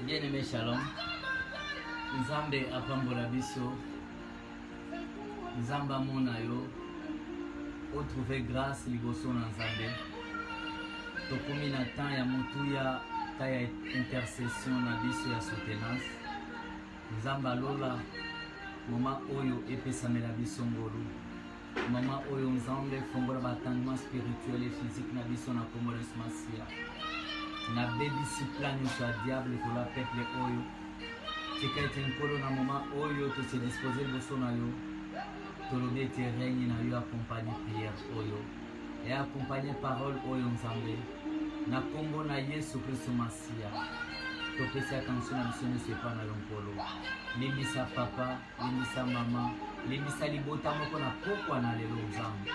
Bien aimé Shalom, Nzambe apambola biso, Nzambe amona yo, otrouve grâce liboso na Nzambe. Tokomi na temps ya motuya, temps ya intercession na biso ya soutenance. Nzambe alola moma oyo epesamela biso ngolu. Mama oyo Nzambe fongola ba attendement spirituel et physique na biso na kombo na Yesu Masiya. Na bebisi plan nyonso ya diable kola peuple oyo. Tika ete Nkolo na moma oyo tose dispose liboso na yo tolobi ete règne na yo accompagne prière oyo e accompagne parole oyo Nzambe na kombo na Yesu Kristo Masiya. topesi akanisi na biso nyonso epai na yo nkolo limbisa papa limbisa mama limbisa libota moko na pokwa na lelo nzambe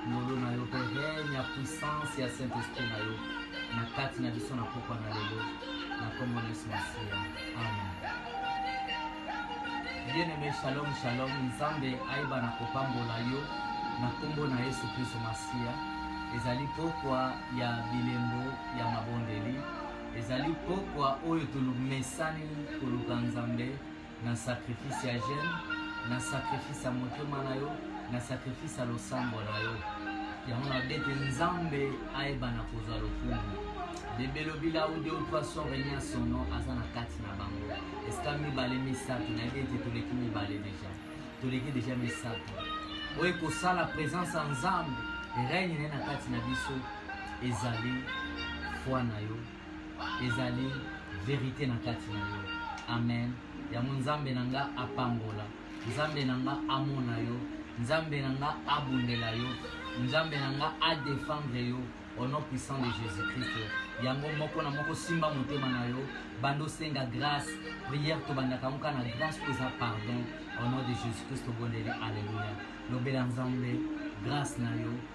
ngolu na yo mpe règne ya puissance ya saint esprit na yo na kati na biso na pokwa na lelo na nkombo na yesu masiya amen bien aimé shalom shalom nzambe ayeba na kopambola yo na nkombo na yesu kristo masiya ezali pokwa ya bilembo ya mabondeli ezali pokwa oyo tolumesani koluka nzambe na sacrifice ya jeune na sacrifice ya motema na yo na sacrifice ya losambo na yo yango na bete nzambe ayebana kozwa lokumu bebelobila ou deux ou trois sort enia son nom aza na kati na bango esika mibale misato nayebi ete toleki mibale deja toleki deja misato oyo ekosala présence ya nzambe règne na ye na kati na biso ezali foi na yo ezali verite na kati na yo amen yango nzambe na nga apambola nzambe na nga amona yo nzambe na nga abundela yo nzambe na nga adefendre yo au nom puissant de jésus christ yango moko na moko simba motema na yo banda osenga grâce prière tobandaka yango kaka na grâce mpo eza pardon au nom de jésus christ obondeli alleluya lobela nzambe grâce na yo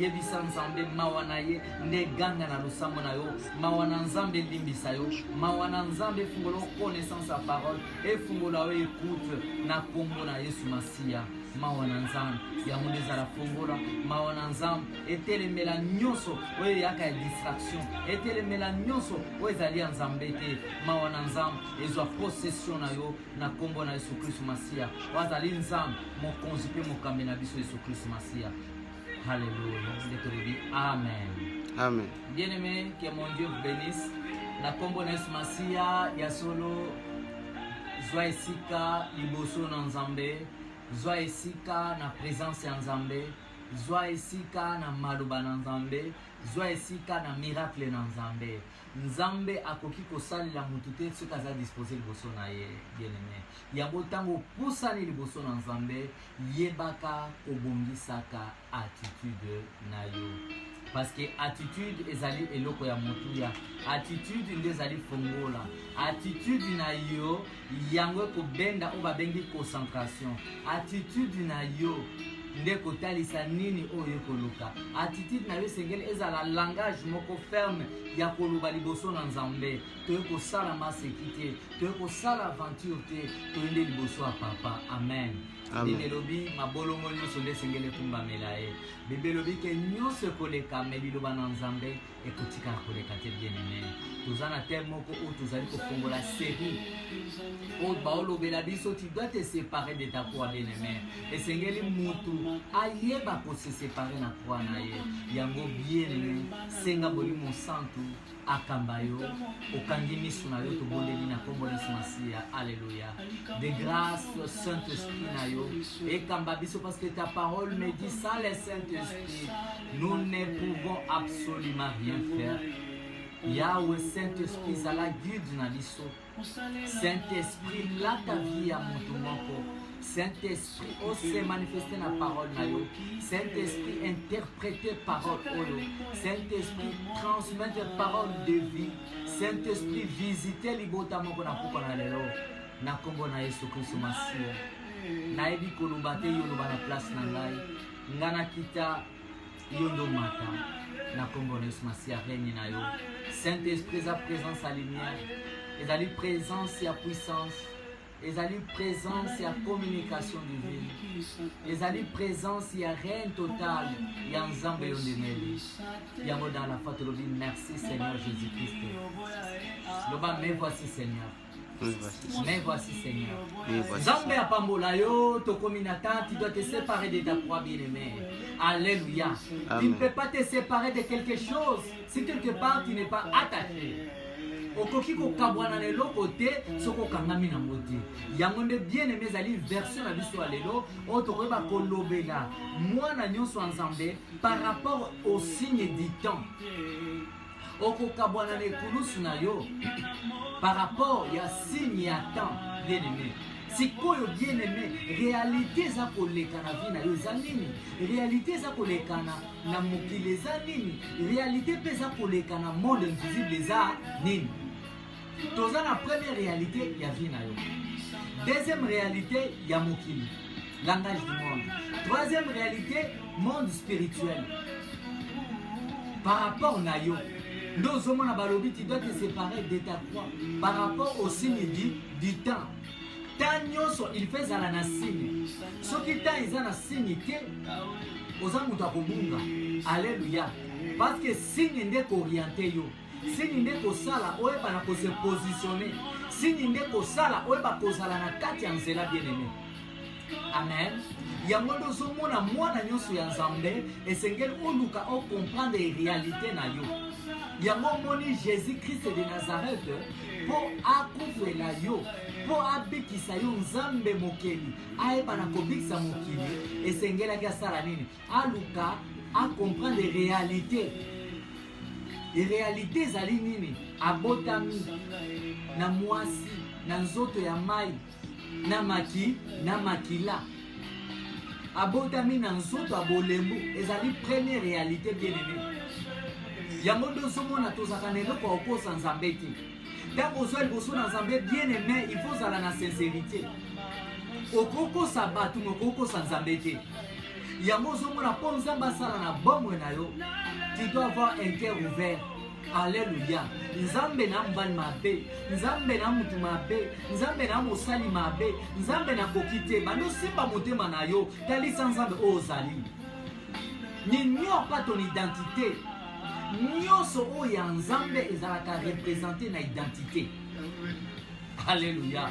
Yebisa Nzambe mawa na ye nde ganga na losambo na yo mawa na Nzambe elimbisa yo mawa na Nzambe efungola connaissance ya parole efungola yo écoute na kombo na Yesu Masiya mawa na Nzambe yango nde ezala fongola mawa na Nzambe etelemela nyonso oyo eyaka ya distraction etelemela nyonso oyo ezali ya Nzambe te mawa na Nzambe ezwa possession na yo na kombo na Yesu Kristo Masiya oyo azali Nzambe mokonzi mpe mokambi na biso Yesu Kristo Masiya Hallelujah. Nde tolobi amen. Amen. Bien aimé, que mon Dieu vous bénisse. Na kombo na Yesu Masiya ya solo zwa esika liboso na Nzambe, zwa esika na presence ya Nzambe, zwa esika na maloba na Nzambe, zwa esika na miracle na Nzambe. Nzambe akoki kosalela motu te soki aza dispose liboso na ye, bien aimé. Yango ntango opusani liboso na Nzambe Yebaka kobongisaka attitude na yo parce que attitude ezali eloko ya motuya attitude nde ezali fongola attitude na yo yango ekobenda oyo babengi concentration attitude na yo nde kotalisa nini oyo ekoluka attitude na yo esengeli ezala langage moko ferme ya koloba liboso na nzambe toye kosala maseki te toye kosala aventure te toyende liboso ya papa amen biblia elobi mabolongo nyonso nde esengeli ekumbamela ye biblia elobi ke nyonso ekoleka me liloba na nzambe ekotikala koleka te bien aime toza na teme moko oyo tozali kofongola serie oyo baolobela biso tu dois te séparer de ta croix bien aime esengeli mutu ayeba kose séparer na croix na ye yango bien aime senga bolimo santu akamba yo okangi misu na yo tobondeli na nkombo na yesu masiya alleluya de grâce saint esprit na yo ekamba biso parce que ta parole me dit sans le saint esprit nous ne pouvons absolument rien faire yawe saint esprit zala guide na biso Saint Esprit lata vie ya moto moko Saint Esprit o se manifeste na parole na yo Saint Esprit interprete parole oyo Saint Esprit transmettre parole de vie Saint Esprit visite libota moko na kupa na lelo na nkombo na Yesu Kristo Masiya nayebi koloba te yoloba na place na ngai ngai nakita yo nde omata na nkombo na yesu masiya règne na yo saint esprit eza présence ya lumière ezali présence ya puissance ezali présence ya communication divine ezali présence ya règne total ya nzambe yo ndemeli yango dans la foi tolobi merci seigneur jésus christ loba me voici seigneur Mais voici Seigneur. Nzambe apambola yo, tokomi na temps, tu dois te séparer de ta proie bien-aimée. Alléluia. Tu ne peux pas te séparer de quelque chose si quelque part tu n'es pas attaché. okoki kokabwana na eloko te soki okangami nango te yango nde bien aime ezali version na biso ya lelo oyo tokoyeba kolobela mwana nyonso ya nzambe par rapport au signe du temps okokabwana na ekulusu na yo par rapport ya signe ya temps bien aimé sikoyo bien aimé réalité eza koleka na vie na yo eza nini réalité eza koleka na, na mokili eza nini réalité mpe eza koleka na monde invisible eza nini toza na première réalité ya vie na yo deuxième réalité ya mokili langage du monde troisième réalité monde spirituel par rapport na yo nde ozomona balobi tu dois te séparer de ta croix par rapport au signe du, du temps temps nyonso il faut ezala na signe soki temps eza na signe te oza moto akobunga alleluya parce que signe nde kooriente yo Sini nde kosala oyeba na ko se positionner. Sini nde kosala oyeba kozala na kati ya nzela bien aimé. Amen. yango nde ozomona mwana nyonso ya nzambe esengeli oluka okomprendre réalité na yo yango omoni jésus krist de nazareth mpo akufela yo mpo abikisa yo nzambe mokeli ayebana kobikisa mokili esengelaki asala nini aluka a comprendre realite realite ezali nini abotami na mwasi na nzoto ya mai na maki na makila abotami na nzoto ya bolembu ezali première realite bien aimé yango nde ozomona tozalaka na eloko ya kokosa nzambe te ntango ozwa liboso na nzambe bien aime il faut ozala na sincerité okokosa bato me okokosa nzambe te yango ozomona mpo nzambe asala na bomoi na yo tu dois avoir un cœur ouvert aleluya nzambe na mbali mabe nzambe na motu mabe nzambe na mosali mabe nzambe nakoki te bandosimba motema na yo talisa nzambe oyo ozali n'ignore pas ton identité nyonso oyo ya nzambe ezalaka represente na identité alleluya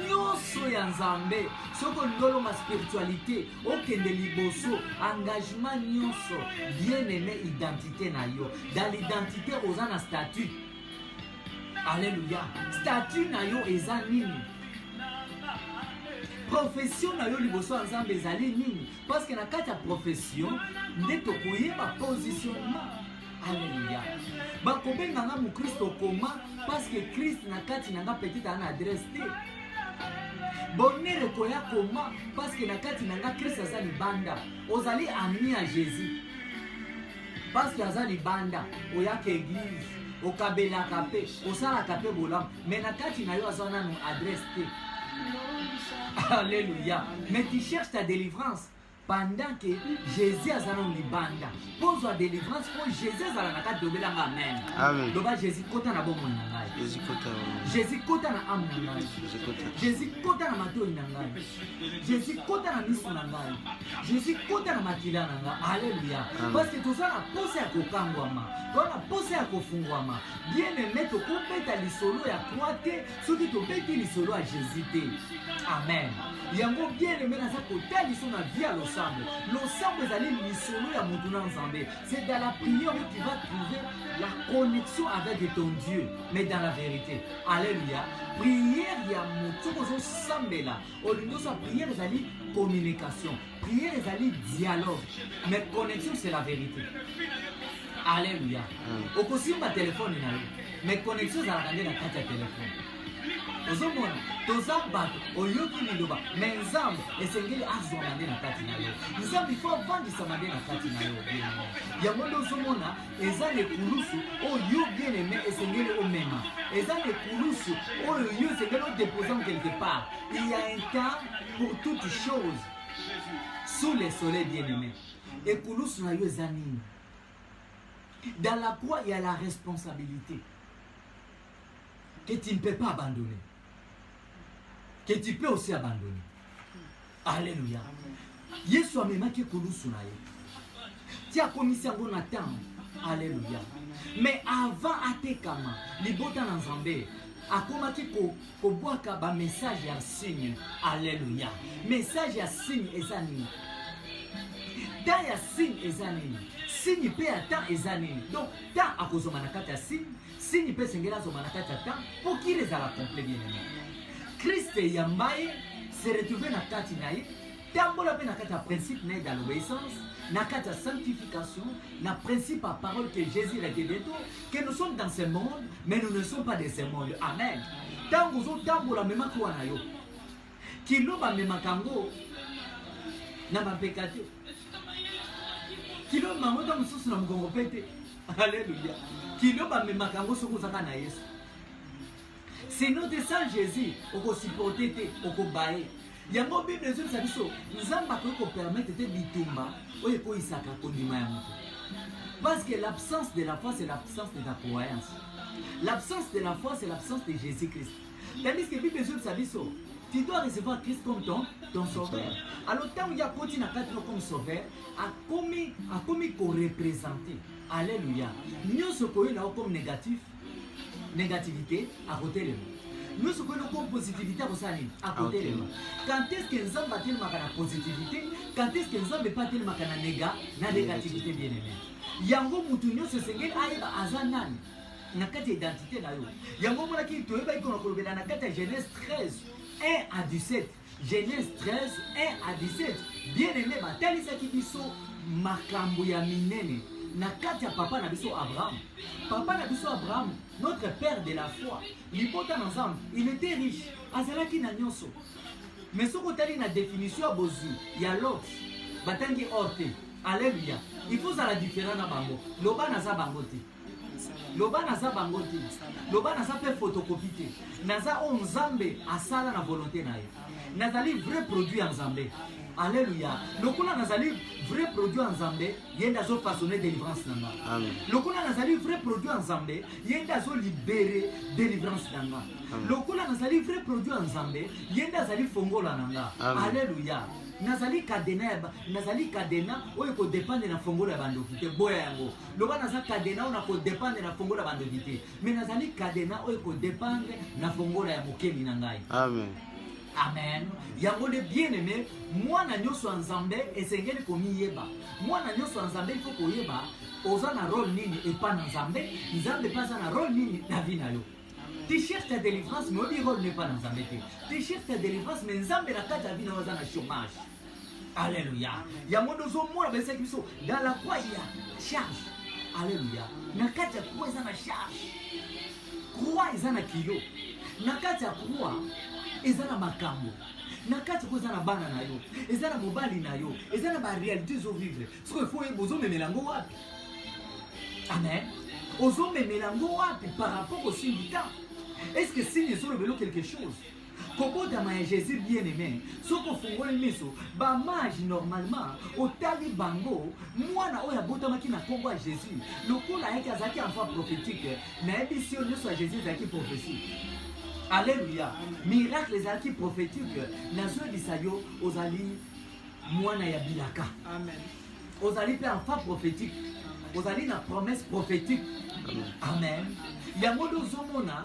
nyonso ya nzambe soki ololoma spiritualité okende liboso engagement nyonso bien aime identité na yo dans l'identité oza na statut alleluya statut na yo eza nini profession na yo liboso ya nzambe ezali nini Parce que na kati ya profession nde tokoyeba positionnement. Alléluia. Bakobenga nga mukristo koma parce que Christ na kati na nga petit ana adresse te. Bonheur ekoya koma parce que na kati na nga Christ aza libanda. Ozali ami ya Jésus. Parce que aza libanda, oyaka église, okabelaka pe, osalaka pe bolamu, mais na kati na yo aza nanu adresse te. Alléluia. Mais tu cherches ta délivrance pendant que Jésus azala na libanda. Pozwa délivrance po Jésus azala na kati dobela nga amen. Amen. Loba Jésus kota na bomoi na ngai. Jésus kota na âme na ngai. Jésus kota na matoyi na ngai. Jésus kota na miso na ngai Jésus kota na makila na ngai aleluya parceke toza na posa ya kokangwama toza na posa ya kofungwama bien aime tokobeta lisolo ya croix te soki tobeti lisolo ya Jésus te amen yango bien aime naza kotaliso na vie ya losambo losambo ezali lisolo ya motu na nzambe c'est dans la prière où tu vas trouver la connexion avec ton Dieu mais dans la vérité Alléluia. Prière ya moto ozo sambela, olingi osa prière ezali communication. Prière ezali dialogue. Mais connexion c'est la vérité. Alléluia. Mm. Okosimba téléphone na yo. Mais connexion ezalaka nde na kati ya téléphone. ozomona toza bato oyoki liloba me nzambe esengeli azwama nde na kati na yo nzambe ifo avandisama nde na kati na yo yango nde ozomona eza na ekulusu oyo yo bien aime esengeli omema eza na ekulusu oyo yo esengeli odepose en quelque part il y a un temps pour toute chose sous le soleil bien aime ekulusu na yo eza nini dans la croix il y a la responsabilité que tu ne peux pas abandonner que tu peux aussi abandonner. Alléluia. Yesu amemaki ekulusu na ye ti akomisi yango na ntango. Alléluia. Mais avant atekama libota na Nzambe akomaki kobwaka bamessage ya signe. Alléluia. Message ya signe eza nini? temps ya signe eza nini signe mpe ya temps eza nini donc temps akozonga na kati ya signe Signe mpe esengeli azonga na kati ya temps mpo kiri ezala complet bien aimé. Christ eyamba ye se retrouver na kati na ye tambola mpe na kati ya principe na ye dans l'obéissance na kati ya sanctification na principe ya parole que Jésus revient bientôt que nous sommes dans ce monde mais nous ne sommes pas de ce monde amen ntango ozotambola memaki wana yo Kilo bamemaka yango na bapeka te, kilo bango ntango mosusu na mokongo mpe te. Aleluya! Kilo bamemaka yango soki ozaka na Yesu, sino te sans Jésus okosiporte te, okobaye yango. Bible ezongisa biso Nzambe akoki kopermetre te bitumba oyo ekoyisaka kondima ya moto, parce que l'absence de la foi c'est l'absence de la croyance, l'absence de la foi c'est l'absence de Jésus-Christ. Tandis que Bible ezobisa biso tu dois recevoir Christ comme ton, ton sauveur. Alors ntango ye akoti na kati no comme sauveur, akomi akomi korepresente. Alléluia. Nyonso koyela yo comme négatif, négativité, akotelema. Nyonso koyela comme positivité, akosala nini? Akotelema. Quand est-ce que Nzambe atelemaka na positivité? Quand est-ce que Nzambe mpe atelemaka na nega, na négativité bien aimé? Yango mutu nyonso esengeli ayeba aza nani. na kati ya identite na yo yango omonaki toyebaki kona kolobela na kati ya genèse 13 1 à 17 genèse 13 1 à 17 bien aimé batalisaki biso makambo ya minene na kati ya papa na biso abraham papa na biso abraham notre père de la foi libota na nzambe il était riche azalaki na nyonso mais soki otali na définition ya bozwi ya lot batangi or te alleluya il faut ozala différent na bango loba naza bango te loba naza bango te loba naza mpe fotokopi te naza oyo nzambe asala na volonté na ye nazali vrai produit ya nzambe aleluya lokola nazali vrai produit ya nzambe ye nde azofasone délivrance na nga lokola nazali vrai produit ya nzambe ye nde azolibere délivrance na nga lokola nazali vrai produit ya nzambe ye nde azali fongola na nga aleluya nazali kadena nazali kadena oyo ekodepende na fongola ya bandoki te boya yango loba naza kadena oyo nakodependre na fongola bandoki te me nazali kadena oyo ekodependre na fongola ya mokeli na ngai amen amen yango nde bien aime mwana nyonso ya nzambe esengeli komiyeba mwana nyonso ya nzambe ifo koyeba oza na role nini epa na nzambe nzambe mpe aza na role nini na vi na yo tu cherches ta délivrance mais oyebi role nepa na nzambe te tu cherches ta délivrance mais nzambe na kati ya vi na yo aza na chômage Alléluia. Yango nde ozomona bayebisaki biso dans la croix il y a charge. Alléluia. Na kati ya croix eza na charge. Croix eza na kilo. Na kati ya croix eza na makambo na kati ko eza na bana na yo eza na mobali na yo eza na barealité ezovivre soko efo oyeba ozomemela yango wapi amen ozomemela yango wapi par rapport osimbi temps est ce que signe ezolobelo quelque chose Kobotama ya Jesus bien aime, soki ofungoli miso ba mage normalement otali bango, mwana oyo abotamaki na kombo ya Jesus lokola ayaki azalaki enfant prophétique, nayebisi yo nyonso ya Jesus ezalaki prophétie. Alléluia. Miracle ezalaki prophétique. Nazoyebisa yo ozali mwana ya bilaka. Amen. Ozali mpe enfant prophétique. Ozali na promesse prophétique. Amen. Yango nde ozomona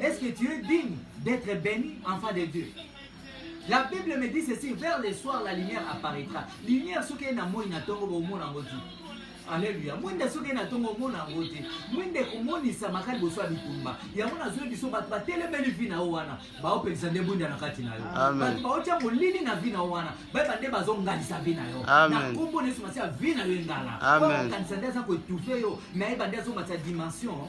Est-ce que tu es digne d'être béni, enfant de Dieu La Bible me dit ceci, vers le soir la lumière apparaîtra. Lumière soki na moi na tongo bo mona ngoti. Alléluia. Mwende soki na tongo mona ngoti. Mwende komonisa makali boso bitumba. Yango na zwe biso bato batelemeli vi na wana. Baopelisa nde bunda na kati na yo. Bato baotya molili na vi na wana. Bayeba nde bazongalisa vi na yo. Na nkombo na Yesu Masiya vi na yo engala. Baokanisa nde aza koetufe yo. Nayeba nde azomatisa dimension.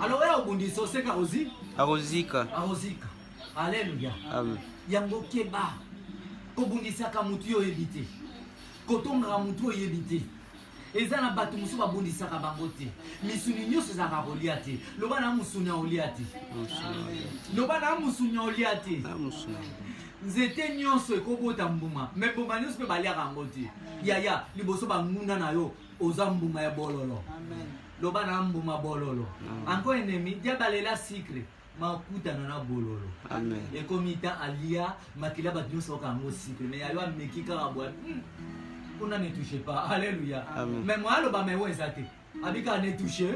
Alors oya obundisa oseka ozi akozika akozika aleluya yango keba kobundisaka motu yo oyebi te kotongaka motu oyebi te eza na bato mosusu babundisaka bango te misuni nyonso ezalaka kolia te loba na mosuni ya olia te loba na mosuni ya olia te nzete nyonso ekobota mbuma me mbuma nyonso mpe baliaka yango te yaya liboso banguna na yo oza mbuma ya bololo loba na mbuma bololo anko enemi diabalela sikre makutana na bololo ekomi ta alia makila bato nyonso oka yango sikre me yayo ameki kaka bwa hmm, kuna ne touche pas alleluya me moya aloba me oyo eza te abika ne touche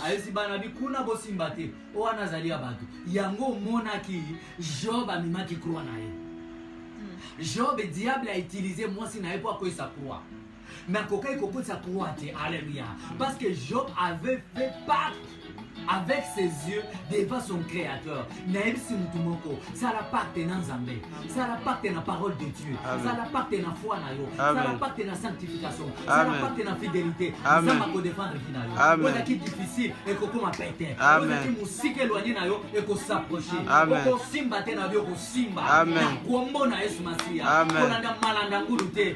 ayesi bana bi kuna bosimba te o wana azali ya bato yango omonaki job amemaki kroi na ye hmm. job diable a utilise mwasi na ye mpo akwesa kroi nakokaki kokotisa croix te alleluia parce que job avait fait pacte avec ses yeux devant son créateur nayebisi motu moko sala pacte na nzambe sala pacte na parole de dieu sala pacte na foi na yo sala pacte na sanctification sala pacte na fidélité nzambe akodefendre vi na yo ozalaki difficile ekokoma pete ozalaki mosika elwanye na yo ekosaproche okosimba te na yo okosimba na kombo na yesu masiya kolanda malanda ngulu te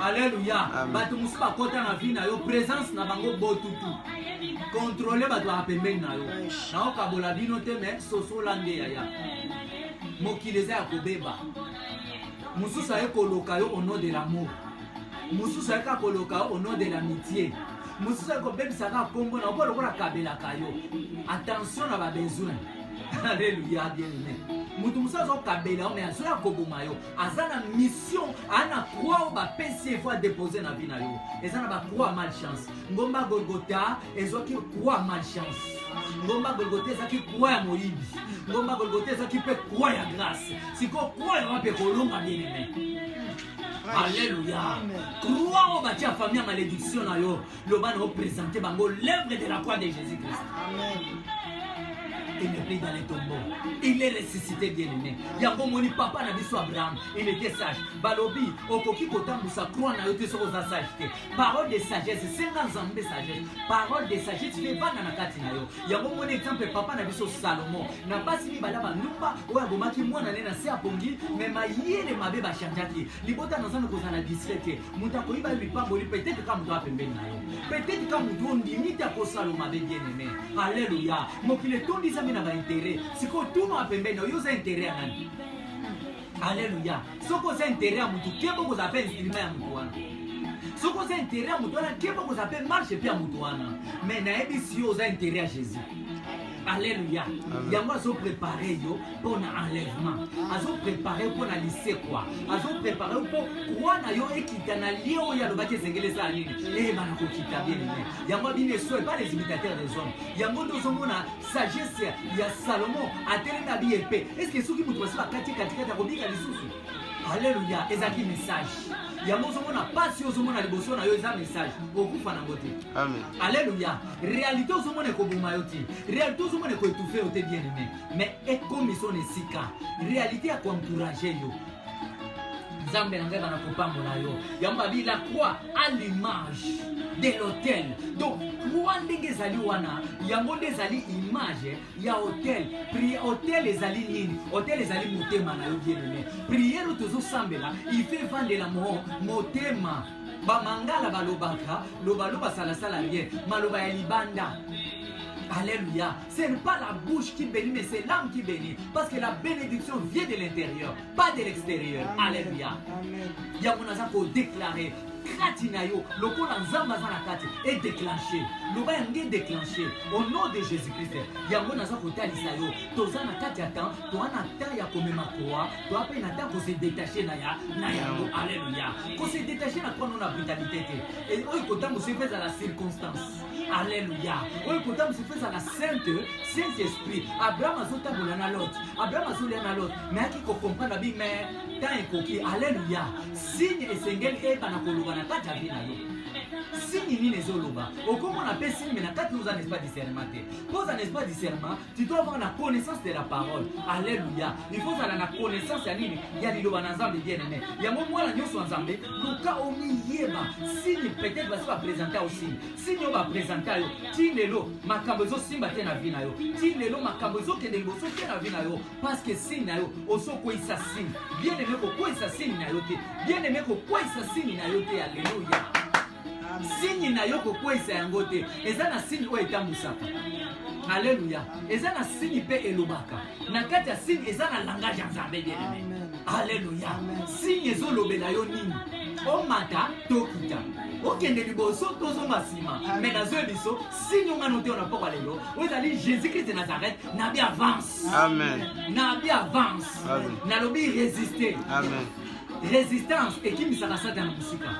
Alléluia. Bato mosusu bakota na vie na yo, présence na bango botutu. Contrôler bato ya pembeni na yo. Naokabola bino te mais sosola nde yaya. Mokili eza ya kobeba. Mosusu aye koloka yo au nom de l'amour. Mosusu aye kaka koloka yo au nom de l'amitié. Mosusu aye kobebisa kaka kombo na yo lokola kabelaka yo. Attention na ba besoin. Alléluia bien aimé. Moto mosusu azokabela yo mais azoya koboma yo. aza na mission aa na croix oyo bapesi ye fo adepose na vie na yo eza na bacroix malchance ngomba golgota ezwaki croix malchance ngomba golgota ezaki croix ya moyibi ngomba golgota ezaki mpe croix ya grâce sikoyo croix yango mpe kolonga bien aime alleluya croix oyo batia famille ya malédiction na yo loba na opresente bango l'œuvre de la croix de jésus christ amen il n'est plus dans les tombeaux il est ressuscité bien aimé yango omoni papa na biso abraham il était sage balobi okoki kotambwisa croix na yo te soki oza sage te parole de sagesse senga nzambe sagesse parole de sagesse mpe bana na kati na yo yango omoni exemple papa na biso salomon na basi mibale bandumba oyo abomaki mwana ne na se apongi me mayele mabe bachangeaki libota na nzambe kozala discret te moto akoyiba yo lipamboli petete kaka moto apembeni na yo petete kaka moto ondimi te akosalo mabe bien aime aleluya mokili etondisami na baintere sikoyo tuna apembeni na yo oza intere ya nani aleluya soki oza intere ya motu keba okozala mpe instrima ya motu wana soki oza intere ya motu wana keba okozala mpe marche mpe ya motu wana mai nayebisi yo oza intere ya jésus Alléluia. Yango azo préparer yo pour na enlèvement. Azo préparer pour na lycée quoi. Azo préparer pour quoi na yo ekita na lieu oyo alobaki ezengeli eza nini. Eh bana ko kita bien bien. Yango bino esoe pas les imitateurs des hommes. Yango tozo mona sagesse ya Salomon atelema bi épée. Est-ce que soki mutu basi bakati katikati akobika lisusu? Alléluia, ezaki message. yango ozomona mpasi ozomona liboso na yo eza message okufa nango te alleluya réalité ozomona ekoboma yo te réalité ozomona ekoetufe yo te bien aimé mais ekomi sona esika réalité ya koencourage yo nzambe na ngai bana kopambola yo yango babi la croix à l'image de l'hôtel donc croix ndenge ezali wana yango nde ezali image ya hotel pri hotel ezali nini hotel ezali motema na yo bienene priere oyo tozosambela ife evandela mo motema bamangala balobaka lobaloba salasala rien maloba ya libanda Alléluia. Ce n'est pas la bouche qui bénit, mais c'est l'âme qui bénit. Parce que la bénédiction vient de l'intérieur, pas de l'extérieur. Alléluia. Il y a mon déclaré. kati na yo lokola nzambe aza na kati edeclenche loba yango edeclenche au nom de jésus christ yango naza kotalisa yo toza na kati ya temps toa na temps ya komema koa toa mpe na temps kosedetache na ya na yango alleluya kosedetache na kwano na brutalité te e, oyo kotambusa mpe ezala circonstance alleluya oyo kotambusa mpe ezala sainte saint esprit abraham azotambola na lot abraham azolia na lot nayaki kokomprendre abi mais temps ekoki aleluya signe esengeli eyebana koloba na kati ya vie na yo signe nini ezoloba okomona mpe signe me na kati oza na espa discernement te mpo oza na espa discernement tu dois avoir na connaissance de la parole alleluia il faut ozala na connaissance ya nini ya liloba na nzambe bien aime yango mwana nyonso ya nzambe luka omiyeba signe peut-être basi bapresenta yo signe signe oyo bapresenta yo ti lelo makambo ezosimba te na vi na yo ti lelo makambo ezokende liboso te na vi na yo parce que signe na yo ozokweyisa signe bien aime kokweyisa signe na yo te bien aime kokweyisa signe na yo te aleluya signe na yo kokweyisa yango te eza na signe oyo etambwisaka aleluya eza na signe mpe elobaka na kati ya signe eza na langage ya nzambe bien aime aleluya signe ezolobela yo nini omata tokita okende liboso tozonga nsima me nazoye biso sini onga noteona mpokwa lelo oyo ezali jésus krist de nazareth nabi avance amen nabi avance amen nalobi résister amen résistance ekimisaka satana mosika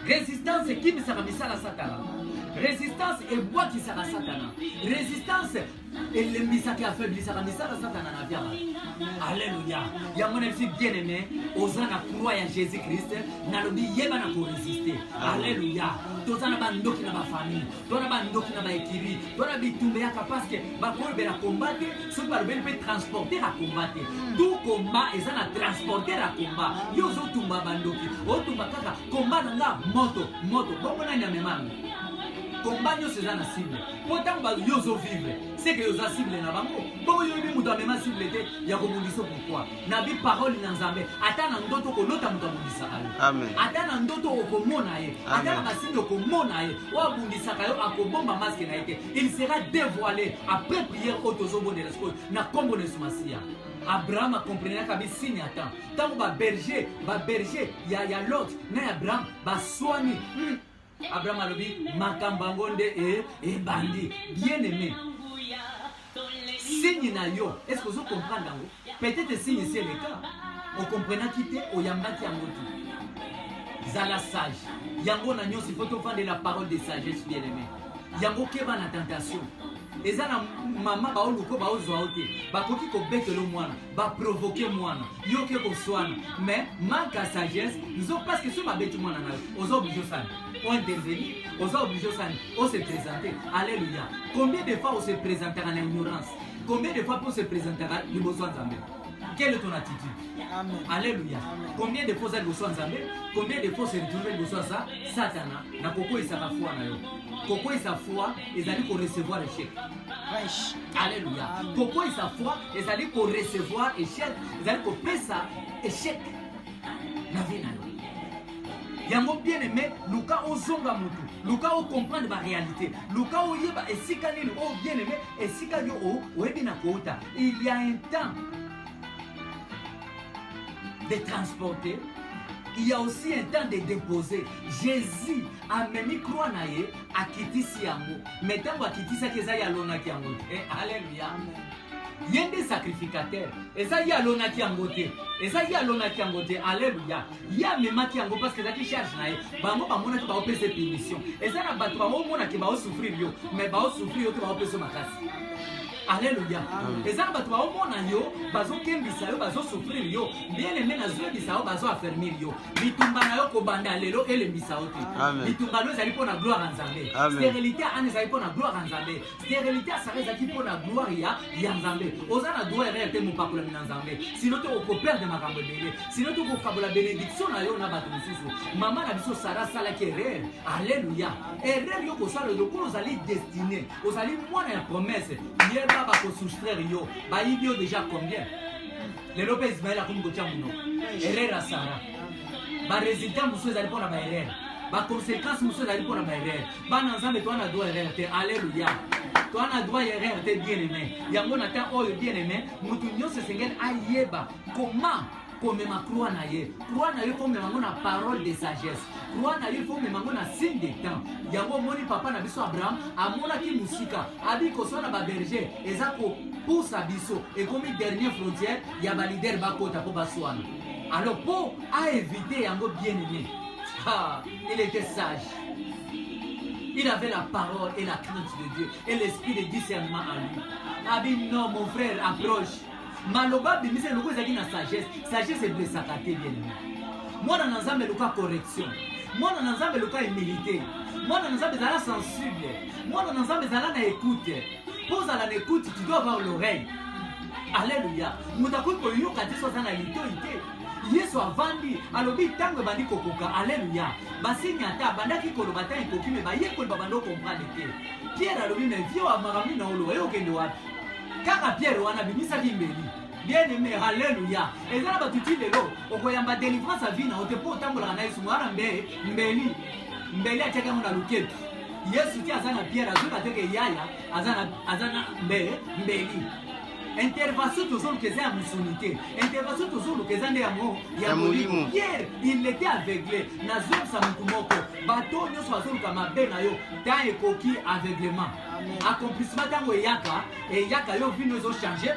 résistance ekimisaka misala satana résistance ebwakisaka satana résistance elembisaka afeblisaka misala satana na vyaka alleluya yango na biso bien aimé oza na croix ya jésus christ nalobi yeba na koresiste alleluya toza na bandoki na bafamille to na bandoki na baekiri to na bitumba eyaka parceke bakolobela combat te soki balobeli mpe transporter ya combat te hmm. tu combat eza na transporter ya combat yo ozotumba bandoki otumba kaka combat na nga moto moto bongo nani amemango combat nyonso eza na cible mpo ntango yo ozovivre seke oza cible na bango bongo yo oyebi moto amema cible te ya kobundisa pourkoi nabi parole na nzambe ata na ndoto kolota moto abundisaka yo ata na ndoto okomona ye ata na basini okomona ye oyo abundisaka yo akobomba maske na ye te il sera dévoilé après prière oyo tozobondela sikoyo na nkombo na yesu masiya abraham akomprenaka bisini ata ntango baberger baberger ya, ya lot na ya abraham baswani mm. Abraham alobi makambo yango nde e, ebandi bien aimé signe na yo est ce que ozo comprendre yango peut-être signe si eleka okomprenaki te oyambaki yango te zala sage yango na nyonso ifo tofandela parole de sagesse bien aimé yango keba na tentation eza na mama baoluko baozwa yo te bakoki kobetelo mwana ba provoquer mwana yo ke koswana mais manque à sagesse nzo parce que soki babeti mwana na yo oza oblige osani o intervenir oza oblige osani o se présenter alléluia combien de fois o se présentaka na ignorance combien de fois po se présentaka liboso ya nzambe quelle est ton attitude Amen. alléluia Amen. combien de fois oza liboso ya nzambe combien de fois se retrouve liboso ya sa satana na kokoyisaka foi na yo kokoyisa foi ezali korecevoir échec Alléluia. Pourquoi sa foi ezali ko recevoir échec, ezali ko pesa échec na vie na yo. Yango bien aimé, luka ozonga mutu, luka o comprendre ba réalité, luka oyeba esika nini o bien aimé, esika yo o oyebi na kouta. Il y a un temps de transporter, il y a aussi un temps de déposer. Jésus amemi croix na ye akitisi yango me ntango akitisaki eza ye alonaki yango te eh, aleluya ye nde sacrificateur eza ye alonaki yango te eza ye alonaki yango te aleluya ye amemaki yango parce que ezalaki charge na ye bango bamonaki baopesa punition eza na bato baomonaki baosouffrir yo mais baosouffrir yo te baopesa makasi aleluya eza na bato baomona yo bazokembisa yo bazosouffrir yo bien aime nazoyebisa yo bazoaffermir yo bitumba na yo kobanda lelo elembisa yo te bitumba no ezali mpo na gloire ya nzambe sterilité ya ana ezali mpo na gloire ya nzambe sterilité ya sara ezalaki mpo na gloire ya ya nzambe oza na droit erreur te mopakolami na nzambe sino te okoperdre makambo ebele sino te okokabola benediction na yo na bato mosusu mama na biso sara asalaki erreur alleluya erreur yo kosala lokola ozali destine ozali mwana ya promesse yeba bakosoustraire yo bayibi yo déjà combien lelo mpe ismael akomi kotya monoko erreur ya sara baresultat mosusu ezali mpo na baerreur baconséquence mosusu ezali mpo na baerreur bana nzambe toa na droit erreur te alleluya toa na droit erreur te bien aimé yango na temps oyo bien aimé moto nyonso esengeli ayeba koma komema croix na ye croix na ye komema yango na parole de sagesse croix na ye komema yango na signe de temps yango omoni papa na biso abraham amonaki mosika abi koswana baberger eza ko posa biso ekomi dernier frontière ya ba leader bakota mpo baswana alors mpo aevite yango bien aimé ah, il était sage il avait la parole et la crainte de dieu et l'esprit de discernement en lui abi ah, non mon frère approche maloba abimisa eloko ezalaki na sagesse sagesse eblesaka te bien aimé mwana na nzambe eloka correction mwana na nzambe eloka humilité mwana na nzambe ezala sensible mwana na nzambe zala na ekute mpo ozala na ekute tu dois avoir l'oreille aleluya moto akoki koyoka te so aza na litoi te yesu avandi alobi ntango ebandi kokoka aleluya basini ata abandaki koloba ntango ekoki me bayekoli babanda okomprane te pierre alobi me vie oyo makambo nini naoloba ye okende wapi kaka pierre wana abimisaki mbeli bien aimé haleluya eza na bato ti lelo okoyamba délivrance ya vi na yo te mpo otambolaka na yesu mwana mbe mbeli mbeli atiaki yango na loketu Yesu ti aza na Pierre azo na teke yaya aza na aza na mbele mbeli. Intervention toujours que c'est à musulité. Intervention toujours que c'est à mon ya molimo. Pierre, il était aveuglé. Na zone sa mukumoko. Bato nyo so azon ka mabe na yo. Ta ekoki aveuglement. Accomplissement tango yaka et yaka yo vino zo changer.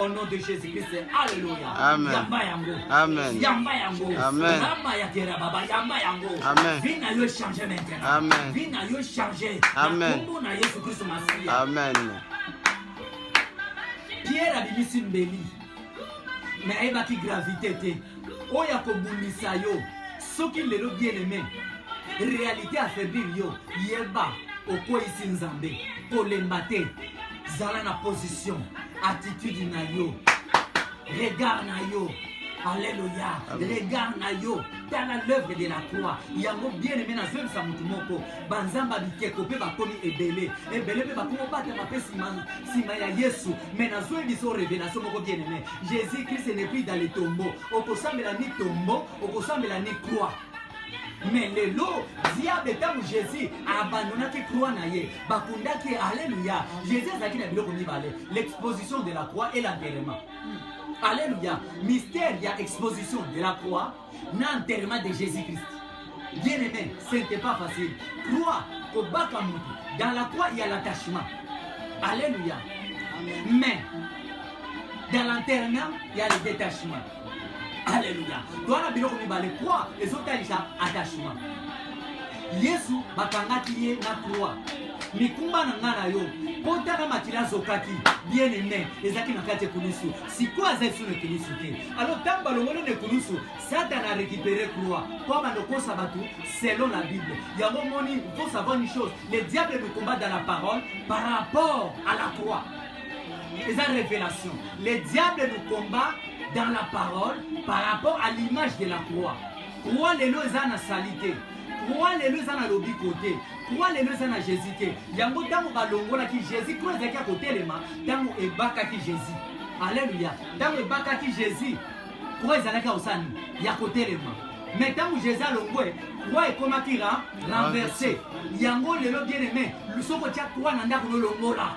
au nom de Jésus-Christ. Alléluia. Amen. Yamba yango. Amen. Yamba yango. Amen. Yamba ya tera baba yamba yango. Amen. Vie na yo changer maintenant. Amen. Vie na yo changer. Amen. Kombo na Yesu Kristo Masiya. Amen. Pierre abimisi mbeli. Mais ayebaki gravité te. Oyo akobundisa yo soki lelo bien aimé réalité affaiblir yo yeba okweyisi nzambe kolemba te zala na position attitude na yo regard na yo aleluya regard na yo tala l'œuvre de la croix yango bien aimé nazwebisa motu moko banzambe ya bikeko mpe bakomi ebele ebele mpe bakomi obatama mpe nsima ya yesu mai nazwebisa o révélation moko bien aimé jésus christ n'est plus dans le tombeau okosambela ni tombeau okosambela ni croix mais lelo diable ntango jésus abandonaki croix na ye bakundaki ye alleluya jésus azalaki na biloko mibale l'exposition de la croix et l'enterrement alleluya mystère ya exposition de la croix na enterrement de jésus christ bien aimé ce n'était pas facile croix kobaka motu dans la croix il y a l'attachement alleluya mais dans l'enterrement il y a le détachement Alléluia. Toi na biloko mibale croix ezotalisa attachement. Yesu bakangaki ye na croix. mikumba na ngai na yo mpo ntaka makila azokaki bien aime ezalaki na kati ekulusu sikoyo azali so na ekulusu te alo ntango balongoli na ekulusu satana arécupere croix mpo abanda kokosa bato selon la bible yango omoni faut savoir une chose le diable ne combat dans la parole par rapport à la croix eza révélation le diable nous combat dans la parole par rapport à l'image de la croix croix lelo eza na salite croix lelo eza na lobiko te croix lelo eza na jésus te yango ntango balongolaki jésus croix ezalaki ya kotelema ntango ebakaki jésus alleluya ntango ebakaki jésus croix ezalaki ya kosala nini ya kotelema mais ntango jésus alongwe croix ekomaki renverse yango lelo bien aimé soki otya croix na ndako nolongola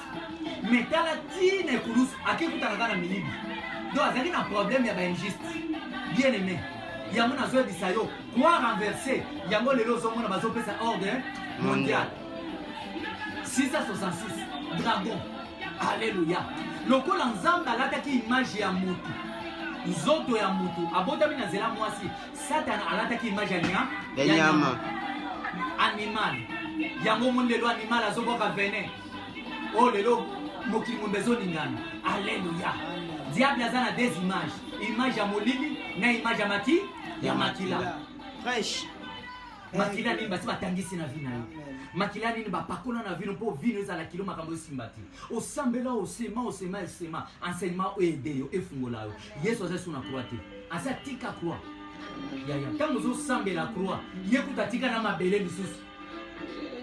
mais tala ti na ekulusu ake kutana kaka na miyibi donc azali na problème ya bainjuste bien aimé yango nazoyebisa yo quoi renverse yango lelo ozomona bazopesa ordre mondial 666 dragon alleluya lokola nzambe alataki image ya motu nzoto ya motu abotami na nzela mwasi satana alataki image ya nya ya nyama animal yango omoni lelo animal azobwaka venin o oh, lelo mokili mombe ezolingana aleluya diable aza na des images image ya molili na image ya maki ya makila fresh makila nini basi batangisi na vi na yo makila nini bapakola na vino mpo vino ezala kilo makambo esimba te osambela osema osema esema enseignement oyo ede yo efungola yo yesu aza so na croix te aza tika croix yaya ntango ozosambela croix ye kuta tika na mabele lisusu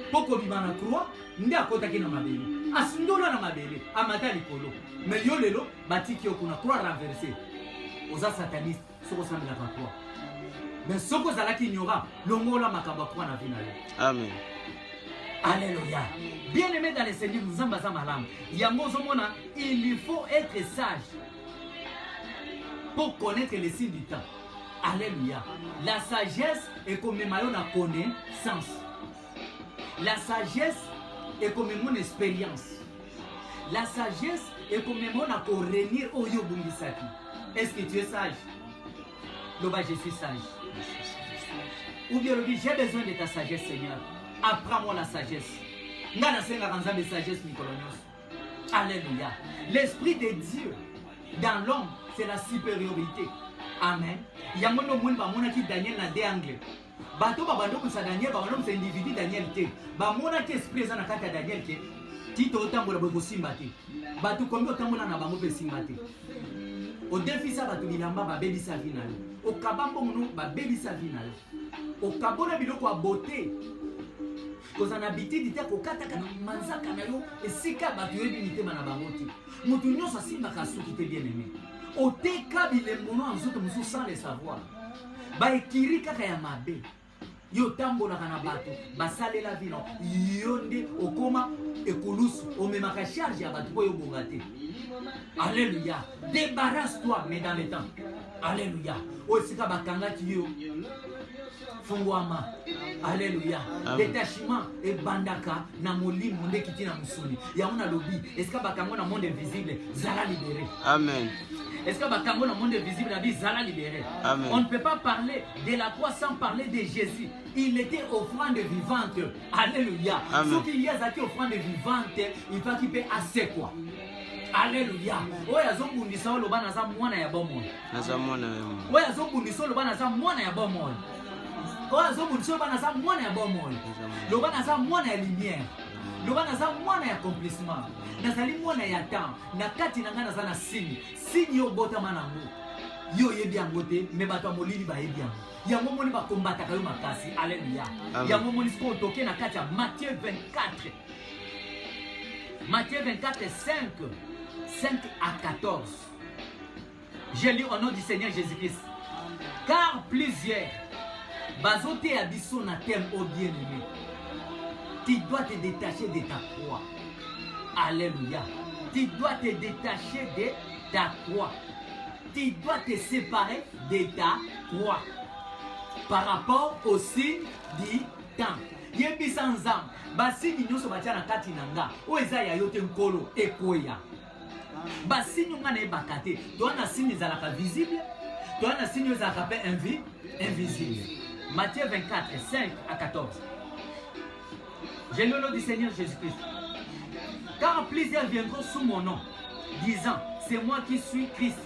mpo kobima na croix nde akotaki na mabele asundola na mabele amata likolo me yo lelo batiki yo kuna croix renverse oza sataniste soki osambelaka croix me soki ozalaki ignora longola makambo ya croix na vi na yo amen Alléluia. Bien aimé dans le Seigneur, nous sommes à malam. Yango zomona, il faut être sage pour connaître les signes du temps. Alléluia. La sagesse est comme maillot na connaissance. La sagesse est comme mon expérience. La sagesse est comme mon na ko renir oyo bungisaki. Est-ce que tu es sage? Loba je suis sage. Ou bien lobi j'ai besoin de ta sagesse Seigneur. Apprends-moi la sagesse. Nga na senga kanzambe sagesse mikolo nyonso. Alléluia. L'esprit de Dieu dans l'homme, c'est la supériorité. Amen. Yango ndio moni bamonaki Daniel na de angle. Bato babandokusa Daniel, babandokusa individu Daniel te. Bamonaki esprit eza na kati ya Daniel ke tito otambola boye kosimba te. Bato komi otambola na bango mpe esimba te. Odefisa bato bilamba babebisa vi na yo. Okaba mbongo no babebisa vi na yo. Okabona biloko ya bote kozala na bitidi te kokataka na manzaka na yo esika bato oyebi mitema na bango te moto nyonso asimbaka suki te bien aime oteka bilembono ya nzoto mosusu sans le savoir baekiri kaka ya mabe yo otambolaka na bato basalela vino yo nde okoma ekulusu omemaka charge ya bato oyo obonga te alleluya débarrasse toi mais dans le temps alleluya oyo esika bakangaki yo fungwama aleluya detachement ebandaka na molimo nde kiti na mosuni yango nalobi esika bakango na monde invisible zala libere amen Est-ce que Bakango le monde invisible la vie Zala libéré On ne peut pas parler de la croix sans parler de Jésus. Il était offrande vivante. Alléluia. Ce qu'il y a, c'est offrande vivante, il va qu'il paie assez quoi. Alléluia. Oya zobundisa oloba naza mwana ya bomoi. naza mwana ya bomoi oyo azobundisa oloba naza mwana ya bomoi oyo azobundisa oloba naza mwana ya bomoi loba naza mwana ya lumière loba naza mwana ya accomplissement nazali mwana ya temps na kati na ngai naza na signe signe yo obotama nango yo oyebi yango te me bato ya molili bayebi yango yango omoni bakombataka yo makasi aleluya yango omoni siko otoke na kati ya matthieu 24 matthieu 24 5 5 à 14 Je lis au nom du Seigneur Jésus-Christ. Car plusieurs bazoteya biso na thème au bien aimé. Tu dois te détacher de ta croix. Alléluia. Tu dois te détacher de ta croix. Tu dois te séparer de ta croix. Par rapport au signe du temps. yebisa nzambe basini nyonso batya na kati na nga oyo eza ya yo te nkolo ekweya basini nga nayebaka te toa na sini ezalaka visible toa na sini ezalaka mpe invi invisible matthieu 24 5 à 14 j'ai le nom du seigneur jésus christ car plusieurs viendront sous mon nom disant c'est moi qui suis christ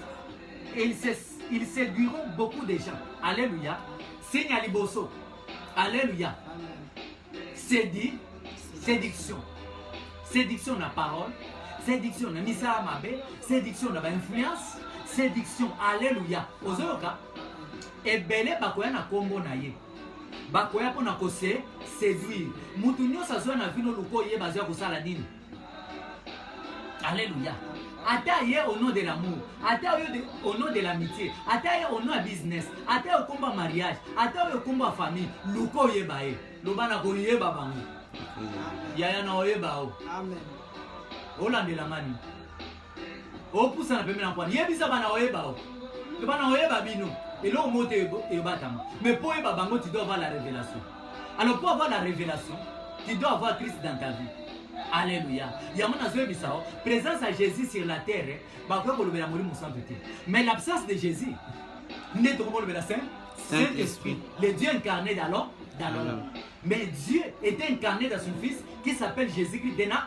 et ils, se, ils séduiront beaucoup de gens alléluia signe ya liboso alléluia Sedi, séduction. Séduction na parole, séduction na misala mabe, séduction na bainfluence, séduction. Alléluia. Ozoyoka? Ebele bakoya na kombo na ye. Bakoya mpo na kose séduire. Mutu nyonso azoya na vino luko ye bazoya kosala nini? Alléluia. Ata ye au nom de l'amour, ata yo au nom de l'amitié, ata ye au nom ya business, ata yo komba mariage, ata yo komba famille, luka oyeba ye. Loba na koyeba bango. Yaya na oyeba o. Amen. Olandela ngani? opusana pembe na kwani yebisa bana oyeba o to bana oyeba bino eloko moko te ebatama mais mpo oyeba bango tu dois avoir la révélation alors pour avoir la révélation tu dois avoir christ dans ta vie alleluya yango nazoyebisa o présence ya jésus sur la terre bakoki kolobela molimo santu te mais l'absence de jésus nde tokoki kolobela saint saint esprit le dieu incarné d'alors d'alors mais dieu est incarné dans son fils qui s'appelle jésus christ dena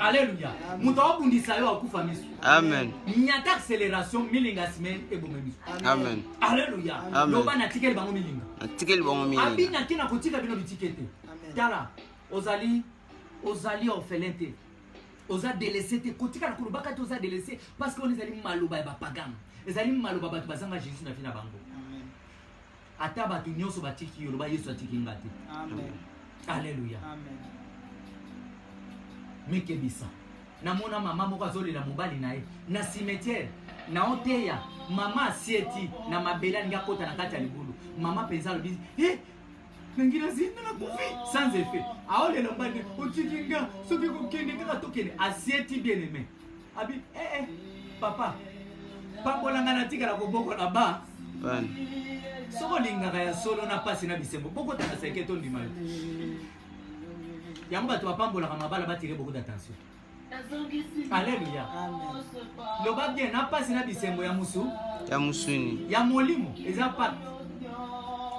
Alléluia. Moto abundisa yo akufa misu. Amen. Nyata acceleration milinga semaine eboma misu. Amen. Alléluia. Loba na tikeli bango milinga. Na tikeli bango milinga. Abina kina kotika bino bitikete. Tala ozali ozali orphelin te. Oza délaissé te kotika na kolobaka te oza délaissé parce que on ezali maloba ya bapagano. Ezali maloba bato bazanga Jésus na vie na bango. Ata bato nyonso batiki yo, loba Yesu atiki nga te. Amen. Aleluya. Amen. Mikebisa. Namona mama moko azolela mobali na ye na cimetière na oteya mama asieti na mabele alingi akota na kati ya libulu mama mpenza alobi eh, nangi nazinda na kufi sans effet aolela mobali otiki nga soki kokende kaka tokende asieti bien aime abi eh eh papa pambola ngai natikala koboko na ba soki olingaka ya solo na mpasi na bisengo bokotana seke tondima yo yango bato bapambolaka mabala batire beaucoup d'attention aleluya loba bien na mpasi na bisengo ya mosu ya mosuni ya molimo eza pate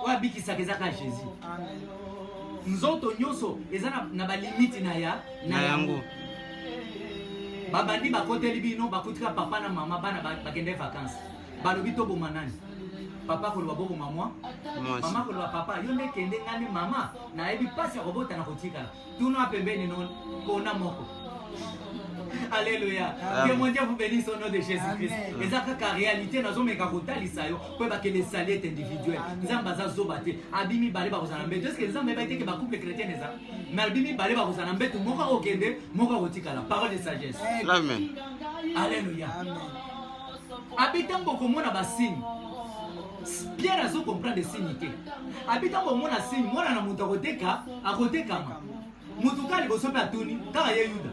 oyo abikisaka eza kaka jésus nzoto nyonso eza na balimiti na ya na yango babandi bakoteli bino bakutika papa na mama bana bakende vacances balobi toboma nani papa koloba boboma mwa mama koloba papa yo nde kende ngai nde mama nayebi mpasi ya kobota na kotikala tuna pembeni no mpona moko Alléluia. Que mon Dieu vous bénisse au nom de Jésus-Christ. Et ça, la réalité, nous avons mega rotali ça yo. Pour que les salettes individuelles. Nous avons baza zobate. Abimi bale ba kozana. Mais est-ce que nous avons mega été que ba couple chrétien les a? nalobi mibale bakozala na mbetu moko akokende moko akotikala parole de sagesse amen alleluya abi ntango okomona basigne pierre azo comprendre signe te abi ntango omona signe mwana na moto akoteka akotekama moto kaka liboso mpe atuni kaka ye yuda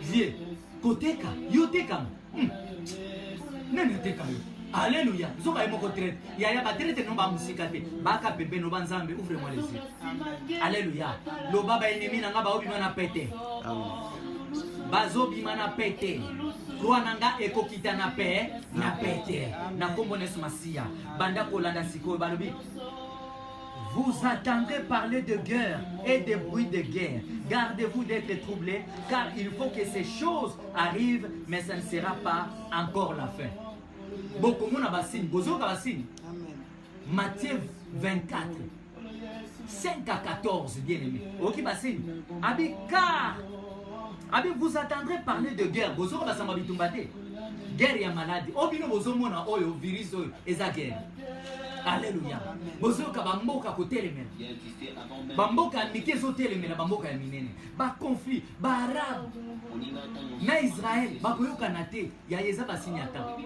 vie koteka yo tekama Hmm. Nani ateka yo? Alléluia. Zoka ye moko traite. Ya ya ba traite non ba musika te. Ba ka bebe no ba nzambe ouvre moi les yeux. Alléluia. Loba ba ennemi na nga ba obi mana pete. Ba zo bi mana pete. Roi na nga ekokita na pe na pete. Na kombo nesu masiya. Banda kolanda sikoyo balobi Vous attendez parler de guerre et des bruits de guerre. Gardez-vous d'être troublé, car il faut que ces choses arrivent, mais ça ne sera pas encore la fin. bokomona basini bozoyoka basini matthieu 24 5 à 14 bien aimé oyoki basini abi car abi vous attendrez parler de guerre bozoka basamba bitumba te guerre ya maladi oyo bino bozomona oyo virus oyo eza guerre aleluya bozoyoka bamboka kotelemela bamboka ya mike ezotelemela bamboka ya minene baconflit baarabe na israel bakoyokana te yaye eza basini ya ntango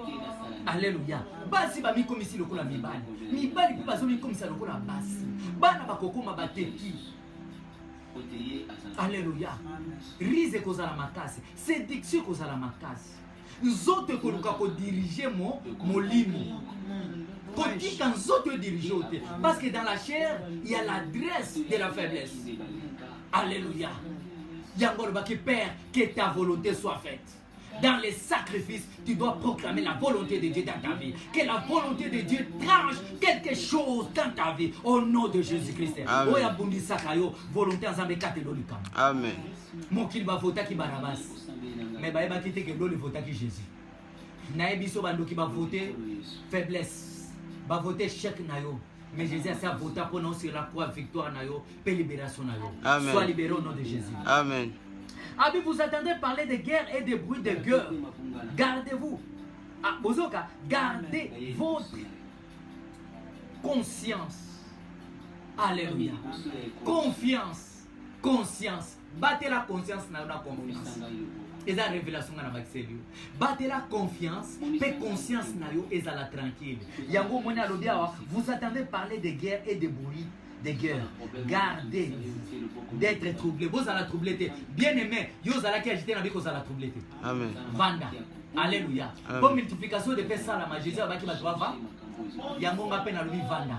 aleluya basi bamikomisi lokola mibali mibali mpe bazomikomisa lokola basi bana bakokoma bateki aleluya rise ekozala makasi séduction ekozala makasi nzoto ekoluka kodirige mo molimo kotika nzoto edirige o te parce que dans la chair il y a l'adresse de la faiblesse alléluia yango alobaki père que ta volonté soit faite dans les sacrifices, tu dois proclamer la volonté de Dieu dans ta vie. Que la volonté de Dieu tranche quelque chose dans ta vie. Au nom de Jésus-Christ. Amen. Volonté Amen. Mokili bavotaki Barabas. mais bayebaki te ke loli votaki jésus naye biso bandoki bavote faiblesse bavote échec na yo mais jésus asi avota mpo na osela kwa victoire na yo mpe libération na yo soit libéré au nom de jésus amen abi vous attendez parler de guerre et de bruit de gueule gardez-vous ah, bozoka gardez votre conscience alléluia confiance conscience batela conscience na yo na confiance eza révélation nga na bakiseli yo batela confiance mpe conscience na yo ezala tranquille yango omoni alobi awa vous attendez parler de guerre et de bruit de guerre gardez d'être troublé bozala troublé te bien aimé yo ozalaki agité na bi kozala troublé te vanda alleluya mpo multiplication de mpe esalama jésus abaki bato bava yango nga mpe nalobi vanda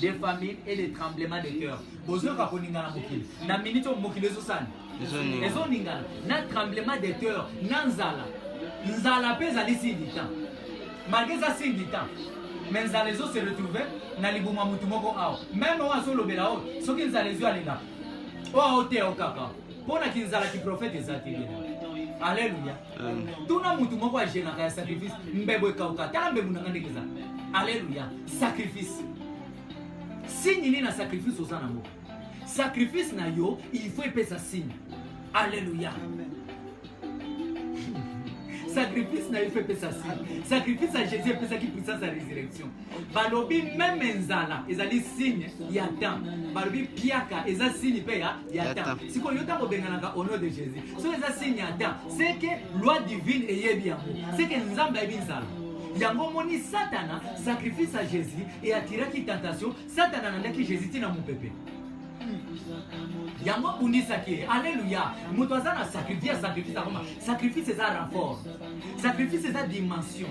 de famine et de tremblement de cœur bozoyoka koningana mokili na minute oyo mokili ezosani ezoningana na tremblement de cœur na nzala nzala mpe ezali sindita malgre eza sindita me nzala ezo se retrouve na libuma motu moko awa meme oyo azolobela oyo soki nzala ezwi alinga oyo aoteya o kaka mpo na kinzala kiprofete eza te alleluya tuna mutu moko agelaka ya sacrifice mbebo ekauka tala mbebo nanga ndenge eza aleluya sacrifice signe nini na sacrifice oza nango sacrifice na yo il faut epesa signe aleluya sacrifice na yo faut epesa signe sacrifice ya jésus epesaki puissance ya résurrection balobi meme nzala ezali signe ya temps balobi piaka eza signe mpe ya ya temps sikoyo yo ntango obenganaka au nom de jésus soki eza signe ya temps seke loi divine eyebi yango seke nzambe ayebi nzala yango omoni satana sacrifice ya jésus e atiraki tentation satana alandaki jésus ntina mopepe yango abundisaki ye alleluya moto aza na sacrifice sacrifice akoma sacrifice eza rapport sacrifice eza dimension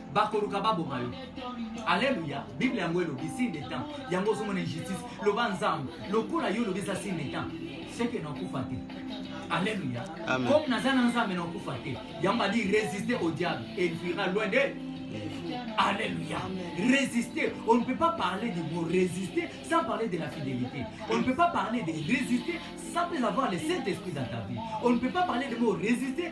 bakoluka baboma yo aleluya bible yango elobi signe de temps yango ozomona injustice loba nzambe lokola yo olobi eza signe de temps seke nakufa te aleluya comme naza na nzambe nakufa te yango badi résister au diable et il fuira loin de Alléluia. Résister. On ne peut pas parler du mot résister sans parler de la fidélité. On ne peut pas parler de résister sans avoir le Saint-Esprit dans ta vie. On ne peut pas parler du mot résister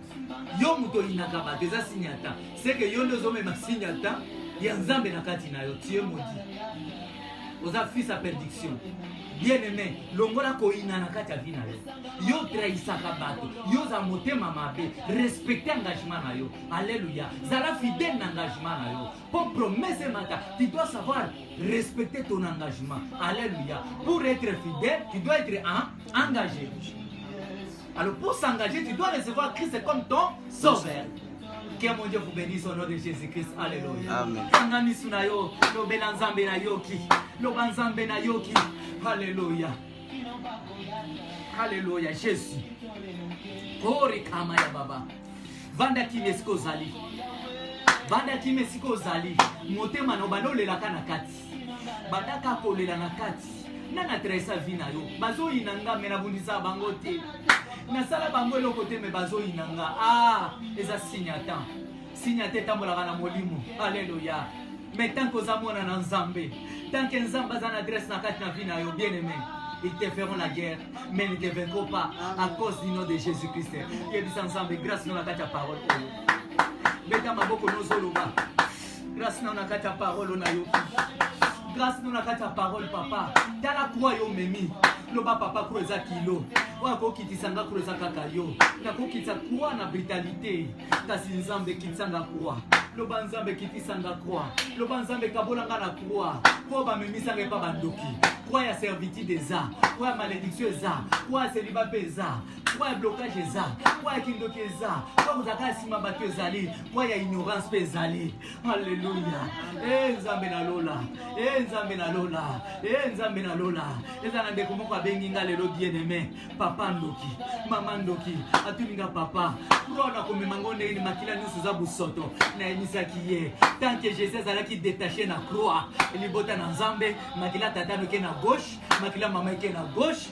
yo moto oyinaka bato eza signe ya temps seke yo nde ozomema signe ya temps ya nzambe na kati na yo tie modi oza fils ya perdiction bien aimé longola koyina na kati ya vi na yo yo trahisaka bato yo oza motema mabe respecte engagement na yo alleluya zala fidèle na engagement na yo mpo promese emata tu dois savoir respecter ton engagement alleluya pour être fidèle tu dois être en engagé Alors pour s'engager, tu dois recevoir Christ comme ton sauveur. Que mon Dieu vous bénisse au nom de Jésus-Christ. Alléluia. Amen. Kanga misu na yo, lobela nzambe na yoki. Loba nzambe na yoki. Alléluia. Alléluia. Jésus. Kori kama ya baba. Vanda kimia esika ozali. Vanda kimia esika ozali. Motema na obanda olelaka na kati. bataka kolela na kati nga na traisa vi na yo bazoyina nga me nabundisa bango te nasala bango eloko te me bazoyina nga a ah, eza signatan signate etambolaka na molimo aleluya me tanke oza mwana na nzambe tanke nzambe aza na adresse na kati na vi na yo bien aime ils te feront la guerre, mais ne te vaincront pas à cause du nom de Jésus-Christ. Yebisa ensemble, grâce à la parole. Beta maboko nozoloba. Grâce na na kati ya parole na yo. Grâce na na kati ya parole papa. Tala kwa yo memi. Loba papa kwa eza kilo. Oya ko kitisa nga kwa eza kaka yo. Na ko kitisa kwa na brutalité. Kasi nzambe kitisa nga kwa. loba nzambe kitisa nga kwa loba nzambe kabola nga na kwa mpo bamemisa nga epa bandoki kwa ya servitude eza kwa ya malediction eza kwa ya seliba mpe eza poids ya blocage eza poids ya kindoki eza poids kozalaka ya nsima bato ezali poids ya ignorance mpe ezali halleluya e eh, nzambe na lola e eh, nzambe na lola e eh, nzambe na lola eza na ndeko moko abengi nga lelo bien aime papa ndoki mama ndoki atuni nga papa mpo na komema ngo ndenge ni makila nyonso eza bosoto nayemisaki ye tant que jésus azalaki détaché na croix libota na nzambe makila tata noke na gauche makila mama eke na gauche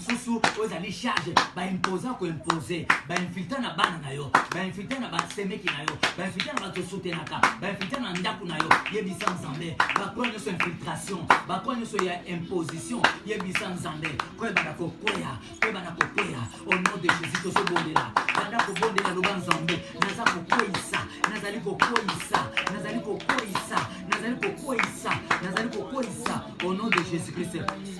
susu ozali charge baimposa koimpose bainfiltre na bana na yo bainfiltre na basemeki na yo bainfiltre na bato osutenaka bainfiltre na ndako na yo yebisa nzambe bakoya nyonso infiltration bakoya nyonso ya imposition yebisa nzambe koyebana kokwea koyebana kokwea au nom de jésus tozobondela banda kobondela loba nzambe naza kokweyisa nazali kokweyisa nazali kokweyisa nazali kokweyisa nazali kokweyisa au nom de jésus christ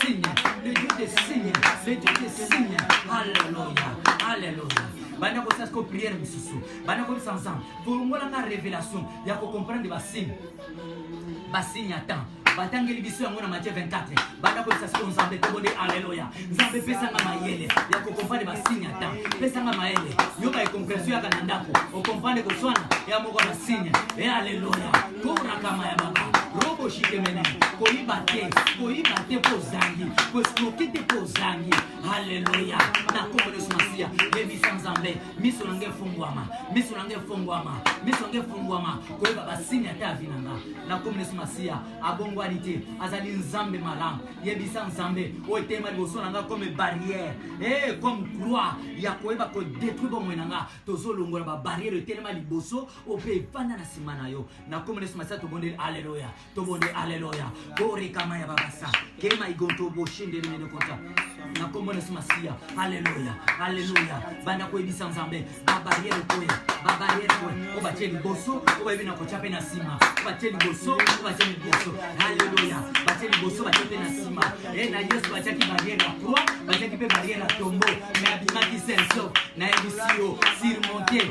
signes, le Dieu des signes, le Dieu des signes. Alléluia, Alléluia. banda kosala siko priere mosusu banda koyebisa ensemble kolongola nga révélation ya kocomprendre basigne basigne ya temps batangeli biso yango na matie 24 banda koyebisa siko nzambe tobonde aleluya nzambe pesanga mayele ya kokompane basigne ata pesanga mayele yoka ekompresio yaka na ndako okompane koswana ya moko na signe e aleluya korakama ya baba robo shikemene koyiba te koyiba te mpo ozangi koesproke te mpo ozangi haleluya na nkombo yesu masiya yebisa nzambe miso na ngai efungwama miso na ngai efungwama miso na ngai efungwama koyeba basini ata avi na nga na nkombo yesu masiya abongwani te azali nzambe malamu yebisa nzambe oyo eteyema liboso na nga comme barrière e eh, comme croix ya koyeba kodetruire bomoi na nga tozolongola babarrière etelema liboso ope efanda na nsima na yo na kombo yesu masiya tobondeli aleluya tobondeli aleluya korekama ya babasa kema igonto boshindeli mene kota na kombo yesu masiya aleluya aleluya banda koyebisa nzambe babariere koya babariere koya oyo batye liboso oyo bayebi na kotya mpe na nsima oyo batye liboso oyo batye liboso aleluya batye liboso batye mpe na nsima e na yesu batyaki bariere ya kro batyaki mpe bariere ya tombo me abimaki senso nayebisi yo surmonte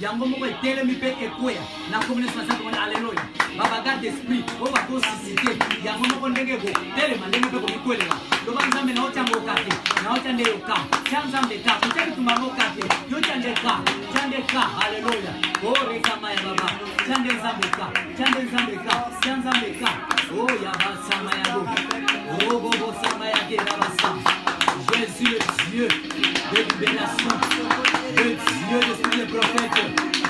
yango moko etelemi mpe ekweya na kombo nyonso nasantu mona aleluya babaga d'esprit oyo bakosisite yango moko ndenge ekotelema ndenge mpe komikwelela loba nzambe na otya ngoka te na otya nde yoka tya nzambe ka kotya bitumba ngoka te yotya nde ka tya nde ka aleluya orekama ya baba Tiande Nzambe ka, tiande Nzambe ka, tia Nzambe ka. Oh ya basama ya go, oh go go sama ya ke na basama. Jésus le Dieu de libération, le Dieu de tous les prophètes.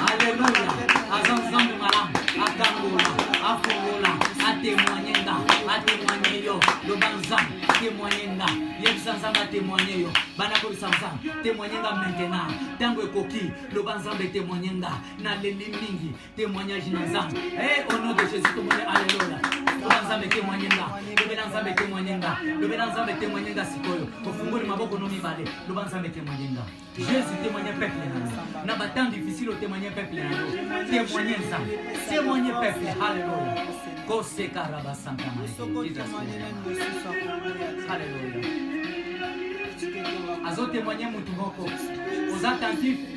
Alléluia, aza Nzambe malamu, akangola, afongola, atemoigne nga, atemoigne yo, loba Nzambe, atemoigne nga, yebisa Nzambe atemoigne yo, bana kobisa Nzambe, temoigne nga maintenant, tango ekoki, loba Nzambe temoigne nga. naleli mingi témoignage na nzambe eh, au nom de jésus tomoni aleloya loba nzambe témoigne nga lobela nzambe témoigne nga lobela nzambe témoigne nga sikoyo ofungoli maboko no mibale loba nzambe témoigne nga jésus témoigne peuple na yo na batemp difficile otémoigne peuple na yo témoigne nzambe témoigne peuple aleloya koseka rabasanta aleloya azotémoigne motu moko oza attentif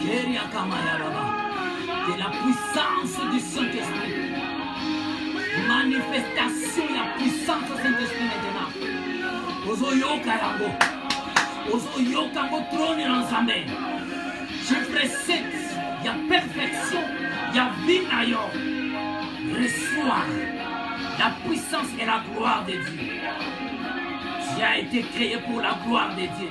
Keria Kamaya Baba, que la puissance du Saint-Esprit, manifestation ya puissance du Saint-Esprit maintenant, ozoyoka yango, ozoyoka yango trone na Nzambe, je précède ya perfection ya vie na yo, reçois la puissance et la gloire de Dieu. Tu as été créé pour la gloire de Dieu.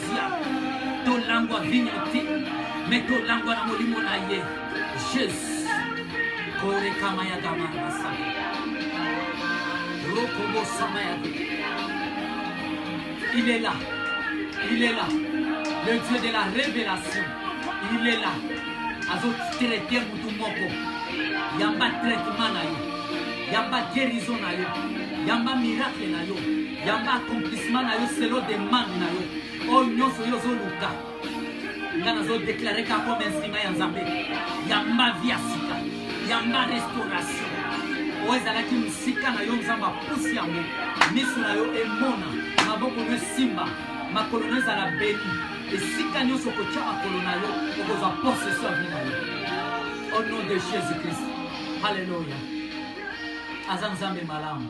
tolangwa vino te me tolangwa na molimo na ye jesus korekama ya gamarasa rokobosama ya il est là il est là le dieu de la révélation il est là azotraite motu moko yamba traitement na yo yamba guérison na yo yamba miracle na yo ya ba accomplissement na yo selo demande na yo oyo oh, nyonso yo ozoluka nga nazodeklare ka comme instrument ya nzambe yamba vi ya sika yamba restauration oyo oh, ezalaki mosika na yo nzambe apusi yango miso na yo emona maboko no esimba makolo no ezala beni esika nyonso okotya makolo na yo okozwa possesio ya vi na yo au oh, nom de jésus christ halleluya aza nzambe malamu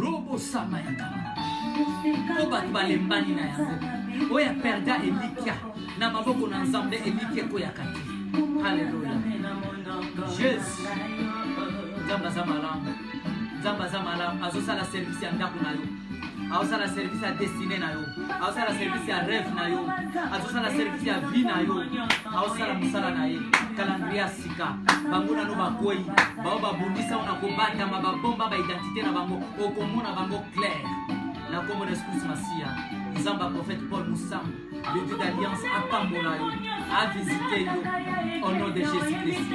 robo sama ya kala mpo bato balembani na yango oyo aperda elikya na maboko na nzambe elikya ekoyaka te haleluya jesu nzambe aza malamu nzambe aza malamu azosala servisi ya ndako na yo azosala servisi ya destine na yo azosala servisi ya reve na yo azosala servisi ya vie na yo azosala mosala na ye kalandria sika bango nano bakwei bao babundisa ona kobatama babomba baidentité na bango okomona bango claire na kombo na escus masiya nzambe ya prophète paul mosango le dieu d'alliance apambola yo avisite yo au nom de jésus christ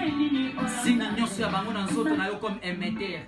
singi nyonso ya bango na nzoto na yo comme emeter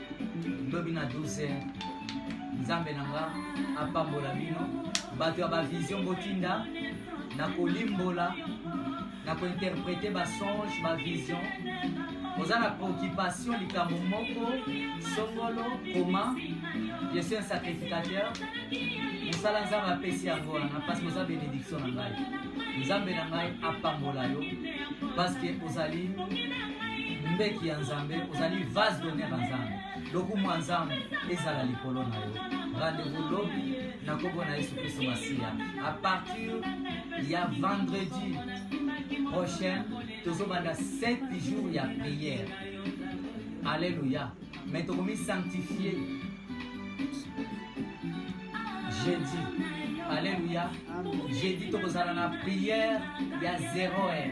lobi na duse nzambe na nga apambola bino bato ya bavision botinda na kolimbola na kointerprete basonge bavision oza na préoccupation likambo moko songolo koma je suis un sacrificateur mosala nzambe apesi yango wana parce que oza bénédiction na ngai nzambe na ngai apambola yo parce que ozali mbeki ya nzambe ozali vase d'honneur ya nzambe lokumu ya nzambe ezala likolo na yo rendez-vous lobi na kombo na yesu kristo masiya à partir ya vendredi prochain tozobanda 7 jours ya prière alleluya mais tokomi sanctifie jeudi alleluya jeudi tokozala na prière ya 0 heure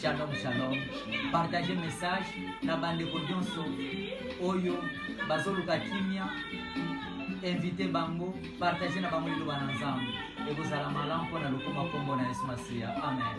Shalom shalom. Partager message na bandeko nyonso oyo bazoluka kimia invite bango partage na bango liloba na nzambe ekozala malamu mpo na lokoma nkombo na yesu masiya amen